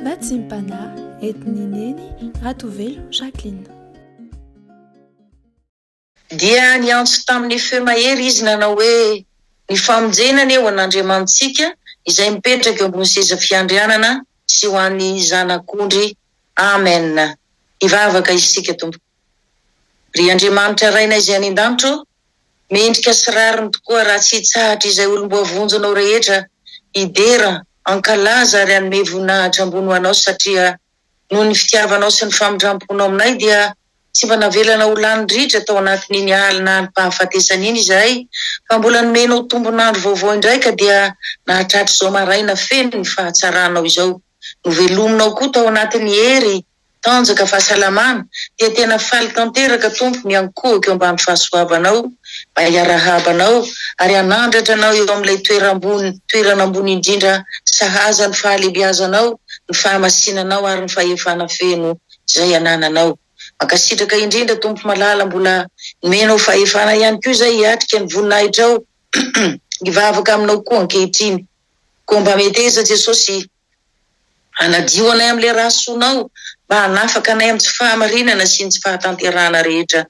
Natsimpana entin'i Neny Ratovelo Jacqueline. Dia niantso tamin'ny feo mahery izy nanao hoe, Ny famonjena anie ho an'Andriamanitsika izay mipetraka eo ambony seza fiandrianana sy ho an'ny Zanak'ondry. Amen. Hivavaka isika, Tompo. Ry Andriamanitra Rainay izay any an-danitra ô, Mendrika sy rariny tokoa raha tsy hitsahatra izay olom-boavonjinao rehetra hidera, hankalaza ary hanome voninahitra ambony ho Anao satria noho ny fitiavanao sy ny famindram-ponao aminay dia tsy mba navelana ho lany ritra tao anatin'iny alina alim-pahafatesana iny izahay fa mbola nomenao tombon'andro vaovao indray ka dia nahatratra izao maraina feno ny fahatsaranao izao. Novelominao koa tao anatin'ny hery Tanjaka fahasalamana dia tena faly tanteraka Tompo miankohoka eo ambany fahasoavanao mba hiarahaba anao ary hanandratra anao eo amin'ilay toeram-bony toerana ambony indrindra sahaza ny fahalebiazanao ny fahamasinanao ary ny fahefana feno izay anananao mankasitraka indrindra Tompo malala mbola nomenao fahefana ihany koa izay hiatrika ny voninahitrao hivavaka aminao koa ankehitriny koa mba meteza Jesosy Hanadio anay amin'ilay rà soanao, mba hanafaka anay amin'ny tsy fahamarinana sy ny tsy fahatanterahana rehetra.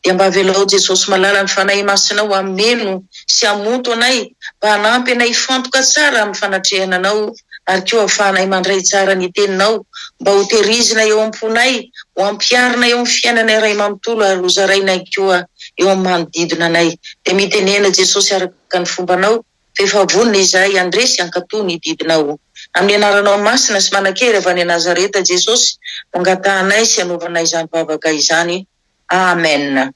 Dia mba avelao Jesosy malala ny Fanahy Masinao hameno sy hamonto anay, mba hanampy anay hifantoka tsara amin'ny fanatrehana Anao, ary koa hahafahanay mandray tsara ny Teninao, mba ho terizina eo am-ponay, ho ampiharina eo amin'ny fiainana iray manontolo ary ho zaraina ihany koa eo amin'ny manodidina anay. Dia mitenena Jesosy araka ny fombanao. Rehefa vonona izahay handre sy hankatò ny didinao. Amin'ny anaranao masina sy manan-kery avy any Nazareta Jesosy no angatahanay sy anaovanay izany vavaka izany. Amen.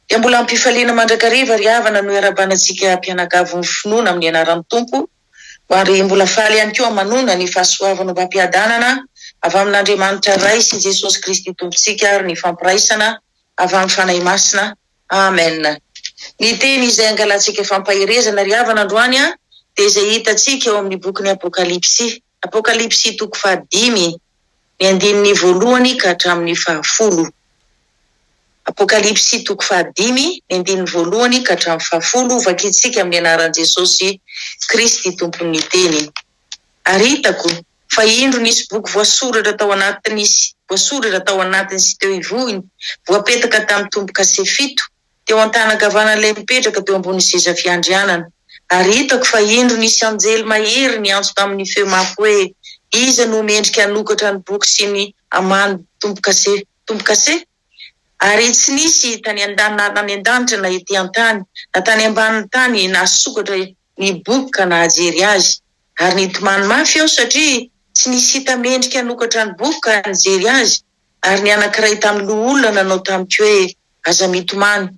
Dia mbola am-pifaliana mandrakariva ry havana no iarabana antsika mpianakavy mifinoana amin'ny anaran'ny Tompo, ary mbola faly ihany koa manona ny fahasoavan'ombam-piadanana avy amin'Andriamanitra Ray sy Jesosy Kristy Tompontsika ary ny fampiraisana avy amin'ny Fanahy Masina. Amen! Ny teny izay angalantsika fampaherezana ry havana androany dia izay hitantsika ao amin'ny bokin'ny Apokalypsy, Apokalypsy toko fahadimy, ny andininy voalohany ka hatramin'ny fahafolo. Apokalypsy toko fahadimy, ny andininy voalohany ka hatramin'ny fahafolo, vakintsika amin'ny anaran'i Jesosy Kristy Tompon'ny teny. Ary hitako fa indro nisy boky voasoratra tao anaty nisy voasoratra tao anatiny sy teo ivohony, voapetaka tamin'ny tombo-kase fito, teo an-tanankavanan'ilay mipetraka teo ambonin'ny seza fiandrianana. Ary hitako fa indro nisy anjely mahery niantso tamin'ny feo mafy hoe, Iza no mendrika hanokatra ny boky sy ny aman tombo-kase tombo-kase? Ary tsy nisy tany an-danitra na ety an-tany na tany ambanin'ny tany nahasokatra Nibobo ka nahajery azy, ary nitomany mafy aho satria tsy nisy hita mendrika hanokatra ny bobo ka nijery azy, ary ny anankiray tamin'ny loholona nanao tamiko hoe, Aza mitomany,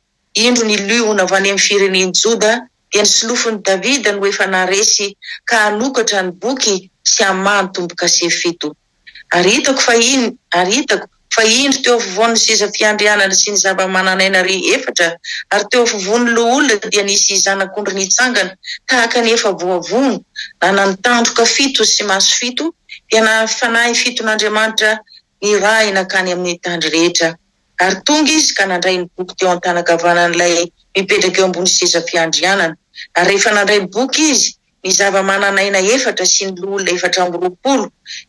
indro ny liona avy any amin'ny firenen'i Joda, dia ny solofon'i Davida no efa naharesy ka hanokatra ny boky sy hamaha ny tombo-kase fito. Ary hitako fa in, ary hitako, fa indro teo afovoan' ny seza fiandrianana sy ny zava-manan'aina re efatra, ary teo afovoan' ny Loholona dia nisy Zanak' ondry nitsangana, tahaka ny efa voavono, nanany tandroka fito sy maso fito, dia nahavy fanahy fiton' Andriamanitra nirahy nankany amin' ny tandry rehetra. Ary tonga izy ka nandray ny boky teo an-tana-kavanan' ilay mipetraka eo ambony seza fiandrianana. Ary rehefa nandray ny boky izy, Ny zava-manan'aina efatra sy ny loholona efatra amby roapolo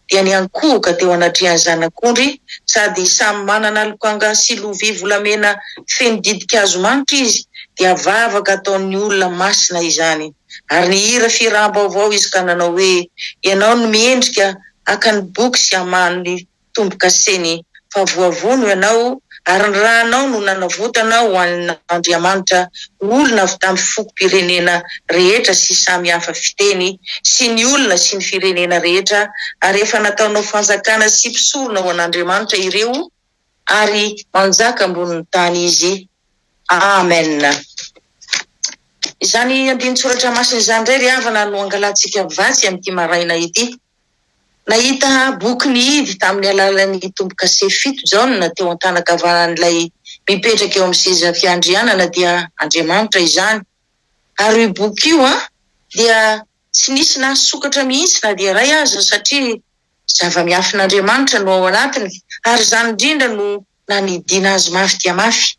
dia niankohoka teo anatrehan'ny Zanak'ondry, sady samy manana lokanga sy lovia volamena feno ditin-kazo manitra izy, dia vavaka ataon'ny olona masina izany. Ary nihira fihiràm-baovao izy ka nanao hoe, Ianao no miendrika haka ny boky sy hamaha ny tombokaseny fa voavono ianao ary ny ranao no nanavotana ho an'Andriamanitra olona avy tamin'ny fokom-pirenena rehetra sy samy hafa fiteny sy ny olona sy ny firenena rehetra ary efa nataonao fanjakana sy mpisorona ho an'Andriamanitra ireo ary manjaka ambonin'ny tany izy Amen Izany andinin-tsoratra masina izany indray ry havana no angalantsika vatsy amin'ity maraina ity. Nahita boky ny Idy tamin'ny alalan'ny tombo-kase fito Jaona teo an-tanan-kavanan'ilay mipetraka eo amin'ny seza fiandrianana dia Andriamanitra izany. Ary io boky io an, dia tsy nisy nahasokatra mihitsy na dia iray aza satria zava-miafin'Andriamanitra no ao anatiny ary izany indrindra no nanidiana azy mafy dia mafy.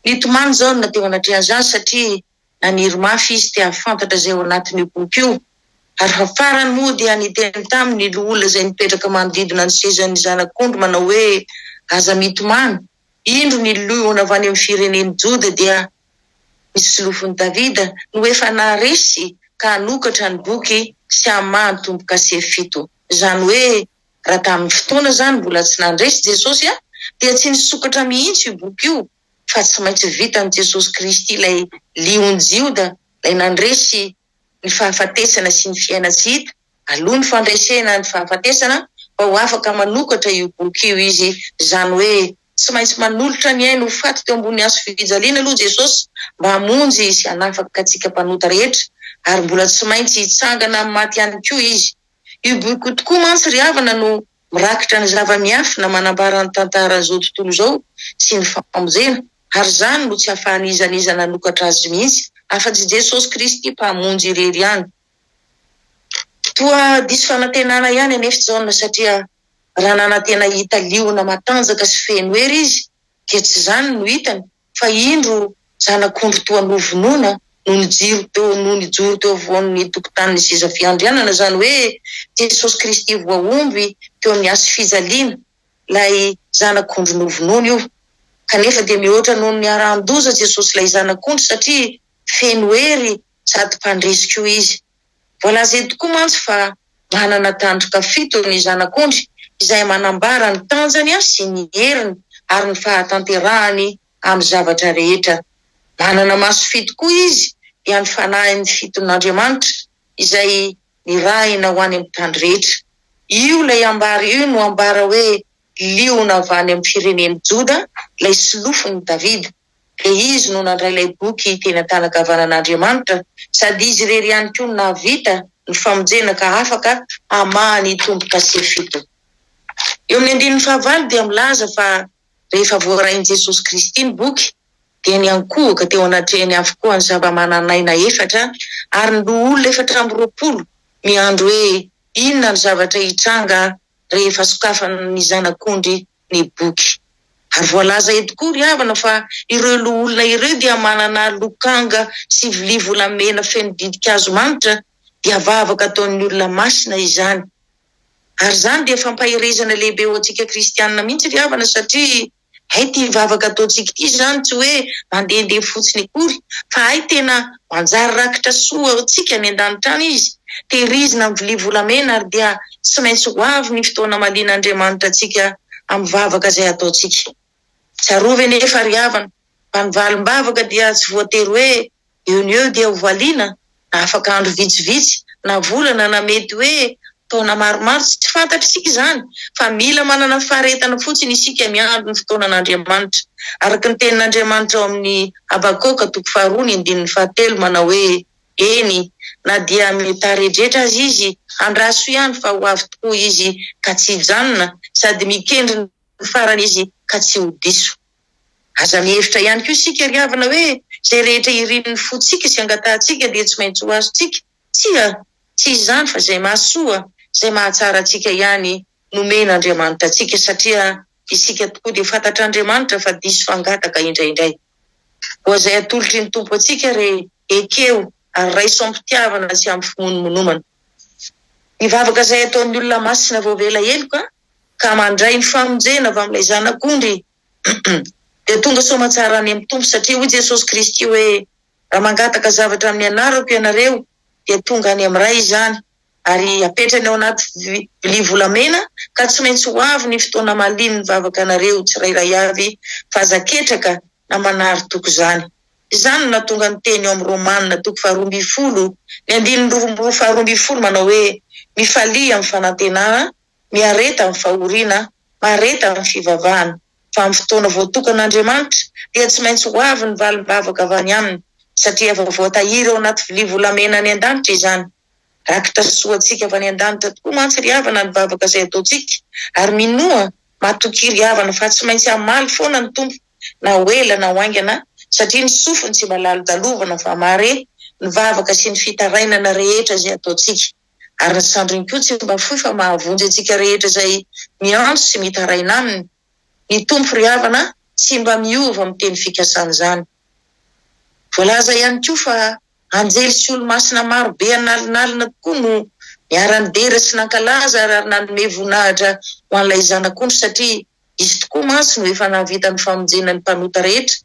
Nitomany Jaona teo anatrehan'izany satria Naniry mafy izy te hahafantatra izay ao anatin'io boky io, ary fa farany moa dia niteny taminy ny loholona izay nipetraka manodidina ny sezan'ny zanak'ondry manao hoe, Aza mitomany, indro ny liona avy any amin'ny firenen'i Joda dia ny solofon'i Davida no efa naharesy ka hanokatra ny boky sy hamaha ny tombo-kase fito. Izany hoe raha tamin'ny fotoana izany mbola tsy nandresy Jesosy dia tsy nisokatra mihitsy io boky io. fa tsy maintsy vitan'i Jesosy Kristy ilay Lion'i Jioda, ilay nandresy ny fahafatesana sy ny fiaina tsy hita, aloha ny fandresena ny fahafatesana, mba ho afaka manokatra io boky io izy, izany hoe tsy maintsy manolotra ny ainy ho faty teo ambony hazofijaliana aloha Jesosy mba hamonjy sy hanafaka antsika mpanota rehetra, ary mbola tsy maintsy hitsangana amin'ny maty ihany koa izy. Io boky io tokoa mantsy ry havana no Mirakitra ny zava-miafina manambara ny tantaran'izao tontolo izao sy ny famonjena, ary izany no tsy ahafahan'iza n'iza nanokatra azy mihitsy afa-tsy Jesosy Kristy Mpamonjy irery ihany. Toa diso fanantenana ihany anefa i Jaona, satria raha nanantena hita liona matanjaka sy feno hery izy, dia tsy izany no hitany. fa indro zanak'ondry toa novonoina no nijoro teo no nijoro teo afovoan'ny tokotanin'ny seza fiandrianana, izany hoe Jesosy Kristy voahomby teo amin'ny hasifijaliana, ilay zanak'ondry novonoina io. Kanefa dia mihoatra noho ny harahan-doza Jesosy ilay zanak'ondry satria feno hery sady mpandresy koa izy. Voalaza eto koa mantsy fa manana tandroka fito ny Zanak'ondry izay manambara ny tanjany sy ny heriny ary ny fahatanterahany amin'ny zavatra rehetra. Manana maso fito koa izy dia ny fanahin'ny fiton'Andriamanitra izay nirahina ho any amin'ny tany rehetra. Io ilay ambara io no ambara hoe liona avy any amin'ny firenen'i Joda, ilay solofon'i Davida. dia izy no nandray ilay boky teny an-tanagavanan'Andriamanitra, sady izy irery ihany koa no nahavita ny famonjena ka afaka hamaha ny tombokase fito. Eo amin'ny andininy fahavalo dia milaza fa rehefa voarain'i Jesosy Kristy ny boky dia niankohoka teo anatrehany avokoa ny zava-manan'aina efatra ary ny loholona efatra amby roapolo miandry hoe inona ny zavatra hitranga rehefa sokafany ny Zanak'ondry ny boky. Ary voalaza eto koa ry havana fa ireo loholona ireo dia manana lokanga sy vilia volamena feno ditin-kazo manitra dia vavaka ataon'ny olona masina izany. Ary izany dia fampaherezana lehibe ho antsika kristianina mihitsy ry havana satria hay ity vavaka ataontsika ity izany tsy hoe mandehandeha fotsiny akory fa hay tena Manjary rakitra soa ho antsika any an-danitra any izy, tehirizina amin'ny vilia volamena ary dia tsy maintsy ho avy ny fotoana hamalian'Andriamanitra antsika amin'ny vavaka izay hataontsika. Tsarovy anefa ry havana fa ny valim-bavaka dia tsy voatery hoe eo no eo dia ho valiana, na afaka andro vitsivitsy, na volana, na mety hoe Taona maromaro tsy tsy fantatr'isika izany fa mila manana faharetana fotsiny isika miandry ny fotoanan'Andriamanitra. Araka ny tenin'Andriamanitra ao amin'ny Habakoka toko faharoa ny andininy fahatelo manao hoe, Eny, na dia mety haredretra aza izy, andraso ihany fa ho avy tokoa izy ka tsy hijanona, sady mikendry ny farany izy ka tsy ho diso. Aza mihevitra ihany koa isika ry havana hoe izay rehetra irin'ny fontsika sy angatahantsika dia tsy maintsy ho azontsika. Tsia, tsy izany fa izay mahasoa, izay mahatsara antsika ihany nomen'Andriamanitra antsika satria isika tokoa dia fantatr'Andriamanitra fa diso fangataka indraindray. Koa izay atolotry ny Tompo antsika re ekeo ary raiso am-pitiavana sy am-pimonomonomana. Ny vavaka izay ataon'ny olona masina voavela heloka ka mandray ny famonjena avy amin'ilay Zanak'ondry dia tonga soamatsara any amin'ny Tompo satria hoy Jesosy Kristy hoe Raha mangataka zavatra amin'ny anarako ianareo, dia tonga any amin'ny Ray izany, ary apetrany ao anaty vilia volamena, ka tsy maintsy ho avy ny fotoana mahalian' ny vavakanareo tsirairay avy, fa aza ketraka na manary toky izany. Izany no nahatonga ny teny ao amin'ny Romana toko faharoa ambin'ny folo, ny andininy roa faharoa ambin'ny folo manao hoe, Mifalia amin'ny fanantenana, miareta amin'ny fahoriana, mahareta amin'ny fivavahana. fa amin'ny fotoana voatokan'Andriamanitra dia tsy maintsy ho avy ny valim-bavaka avy any Aminy, satria efa voatahiry ao anaty vilia volamena any an-danitra izany. Rakitra sy soa antsika avy any an-danitra tokoa mantsy ry havana ny vavaka izay ataontsika, ary minoa, matokia ry havana, fa tsy maintsy hamaly foana ny Tompo na ho ela na ho haingana, satria ny sofiny tsy mba lalodalovana fa mahare ny vavaka sy ny fitarainana rehetra izay ataontsika. ary ny sandriny koa tsy mba fohy fa mahavonjy antsika rehetra izay miantso sy mitaraina aminy. Ny Tompo ry havana tsy mba miova amin'ny teny fikasan'izany. Voalaza ihany koa fa anjely sy olomasina maro be analinalina tokoa no niara-nidera sy nankalaza ary nanome voninahitra ho an'ilay Zanak'ondry satria Izy tokoa mantsy no efa nahavita ny famonjena ny mpanota rehetra,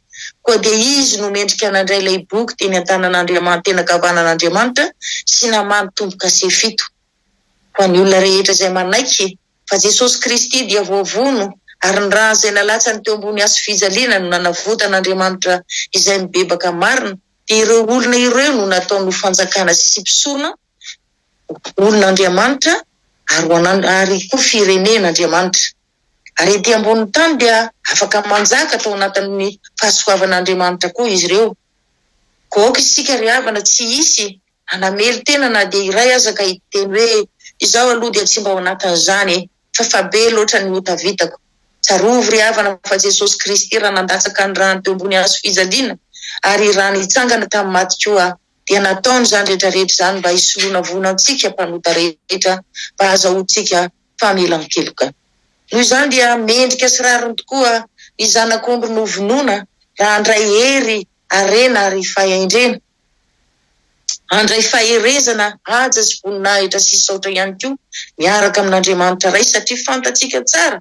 koa dia Izy no mendrika nandray ilay boky teny an-tanan'Andriamanitra, teny an-kavanan'Andriamanitra, sy namaha ny tombo-kase fito. Ho an'ny olona rehetra izay manaiky fa Jesosy Kristy dia voavono ary ny rany izay nalatsany teo ambony hazofijaliana no nanavotan'Andriamanitra izay mibebaka marina, dia ireo olona ireo no nataony ho fanjakana sy mpisorona, olona Andriamanitra ary ho an'And ary koa firenen' Andriamanitra. Ary ety ambonin'ny tany dia afaka manjaka tao anatin'ny fahasoavan' Andriamanitra koa izy ireo. Koa aoka isika ry havana tsy hisy hanamely tena na dia iray aza ka hiteny hoe, Izaho aloha dia tsy mba ao anatin'izany e, fa fa be loatra ny ota vitako. Tsarovy ry havana fa Jesosy Kristy raha nandatsaka ny rany teo ambony hazo fijaliana ary rany hitsangana tamin'ny maty koa, dia nataony izany rehetra rehetra izany mba hisoroana voina antsika mpanota rehetra mba hahazahoantsika famelan-keloka. Noho izany dia mendrika sy rariny tokoa ny zanak'ondry novonoina raha handray hery, harena ary fahendrena. Handray faherezana, haja sy voninahitra sy saotra ihany koa miaraka amin'Andriamanitra Ray satria fantatsika tsara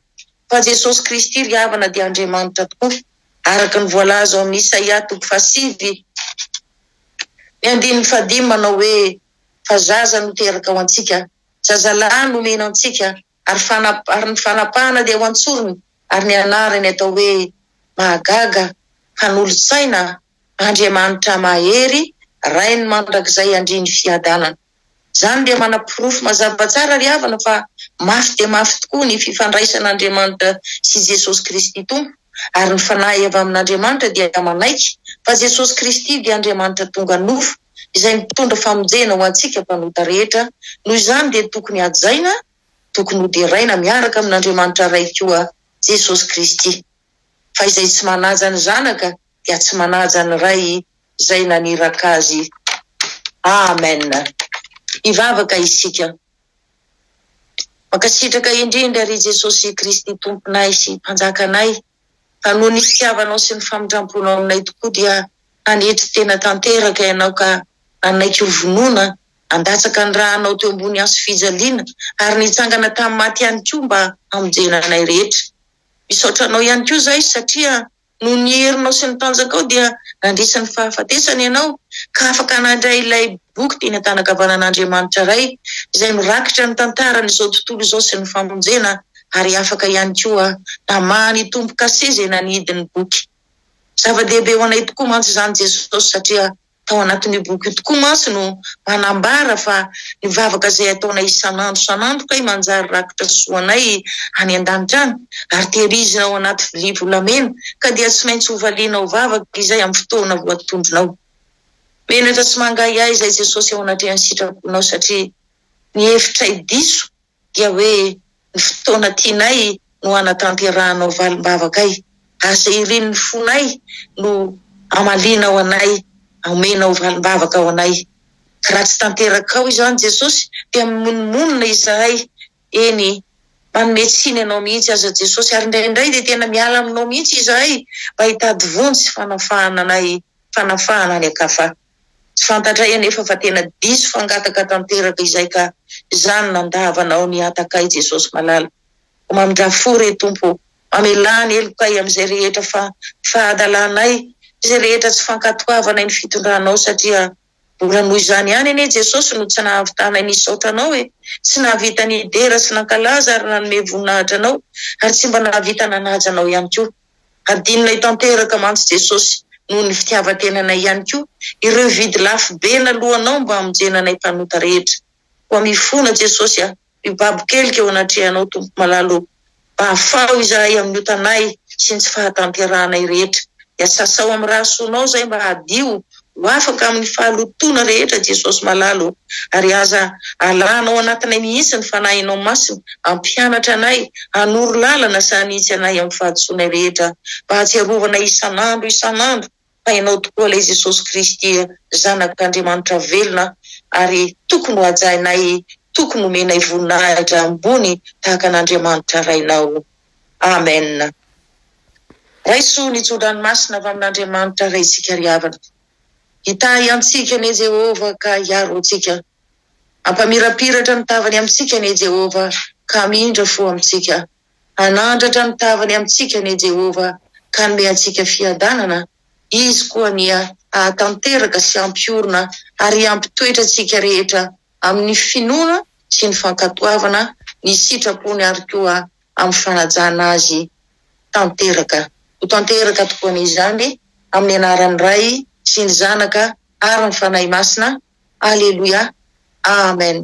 fa Jesosy Kristy ry havana dia Andriamanitra tokoa. araka ny voalaza ao amin'ny Isaia toko fahasivy ny andininy fahadimy manao hoe, Fa zaza no teraka ho antsika, zazalahy no omena antsika, ary fana, ary ny fanapahana dia ho an-tsorony, ary ny anarany atao hoe, Mahagaga, Mpanolo-tsaina, Andriamanitra Mahery, Rain'ny Mandrakizay Andrian'ny Fiadanana. Izany dia manaporofo mazava tsara ry havana fa mafy dia mafy tokoa ny fifandraisan'Andriamanitra sy Jesosy Kristy Tompo ary ny fanahy avy amin'Andriamanitra dia manaiky fa Jesosy Kristy dia Andriamanitra tonga nofo izay mitondra famonjena ho antsika mpanota rehetra noho izany dia tokony hajaina tokony hoderaina miaraka amin'Andriamanitra Ray koa Jesosy Kristy fa izay tsy manaja ny Zanaka dia tsy manaja ny Ray izay naniraka azy. Amen. Hivavaka isika. Mankasitraka indrindra ry Jesosy Kristy Tomponay sy Mpanjakanay fa noho ny fitiavanao sy ny famindramponao aminay tokoa dia nanetry tena tanteraka ianao ka nanaiky ho vonoina, nandatsaka ny ranao teo ambony hazofijaliana ary nitsangana tamin'ny maty ihany koa mba hamonjena anay rehetra. Misaotra anao ihany koa izahay satria noho ny herinao sy ny tanjakao dia nandresy ny fahafatesana ianao ka afaka nandray ilay boky teny an-tanakavanan'Andriamanitra Ray izay mirakitra ny tantaran'izao tontolo izao sy ny famonjena ary afaka ihany koa namaha ny tombo-kase izay nanidy ny boky. Zava-dehibe ho anay tokoa mantsy izany Jesosy satria tao anatin'io boky io tokoa mantsy no manambara fa ny vavaka izay ataonay isan'andro isan'andro kay manjary rakitra sy soanay any an-danitra any, ary tehirizina ao anaty vilia volamena, ka dia tsy maintsy hovalianao vavaka izay amin'ny fotoana voatondronao. Menatra sy mangahiahy izay Jesosy ao anatrehan'ny sitraponao satria ny hevitray diso dia hoe ny fotoana tianay no hanatanterahanao valim-bavakay. Asa irin'ny fonay no hamalianao anay, hamenao valim-bavaka ho anay. Raha tsy tanterakao izany Jesosy dia mimonomonona izahay, eny, manome tsiny anao mihitsy aza Jesosy, ary indraindray dia tena miala aminao mihitsy izahay mba hitady vonjy sy fanafahana anay, fanafahana any an-kafa. Tsy fantatray anefa fa tena diso fangataka tanteraka izay ka izany nandava anao ny hatakay Jesosy malala o mamindraha fo re Tompo o mamelà ny helokay amin'izay rehetra fa fahadalanay izay rehetra tsy fankatoavanay ny fitondranao satria mbola noho izany ihany anie Jesosy no tsy nahavitanay nisaotra anao e tsy nahavita nidera sy nankalaza ary nanome voninahitra anao ary tsy mba nahavita nanaja anao ihany koa Hadinonay tanteraka mantsy Jesosy noho ny fitiavan-tenanay ihany koa ireo vidy lafo be naloanao mba hamonjena anay mpanota rehetra. Koa mifona Jesosy a, mibaby kelika eo anatrehanao Tompo malala ô. Mba afaho izahay amin'ny otanay sy ny tsy fahatanterahanay rehetra. Dia sasao amin'ny rà soanao izahay mba hadio Ho afaka amin'ny fahalotoana rehetra Jesosy malala ô, ary aza alana ao anatinay mihitsy ny Fanahinao Masina hampianatra anay, hanoro lalana sy hanitsy anay amin'ny fahadisoanay rehetra, mba hahatsiarovanay isan'andro isan'andro fa Ianao tokoa ilay Jesosy Kristy Zanak'Andriamanitra velona ary tokony hohajainay, tokony homenay voninahitra ambony tahaka an'Andriamanitra Rainao. Amen. Raiso ny tso-dranomasina avy amin'Andriamanitra Ray isika ry havana. Hitahy antsika anie Jehovah ka hiaro antsika. Hampamirapiratra ny tavany amintsika anie Jehovah ka hamindra fo amintsika. Hanandratra ny tavany amintsika anie Jehovah ka hanome antsika fiadanana. Izy koa anie hahatanteraka sy hampiorina ary hampitoetra antsika rehetra amin'ny finoana sy ny fankatoavana ny sitrapony ary koa amin'ny fanajana azy tanteraka. Ho tanteraka tokoa anie izany, amin'ny anaran'ny Ray sy ny Zanaka ary ny Fanahy Masina. Aleloia. Amen.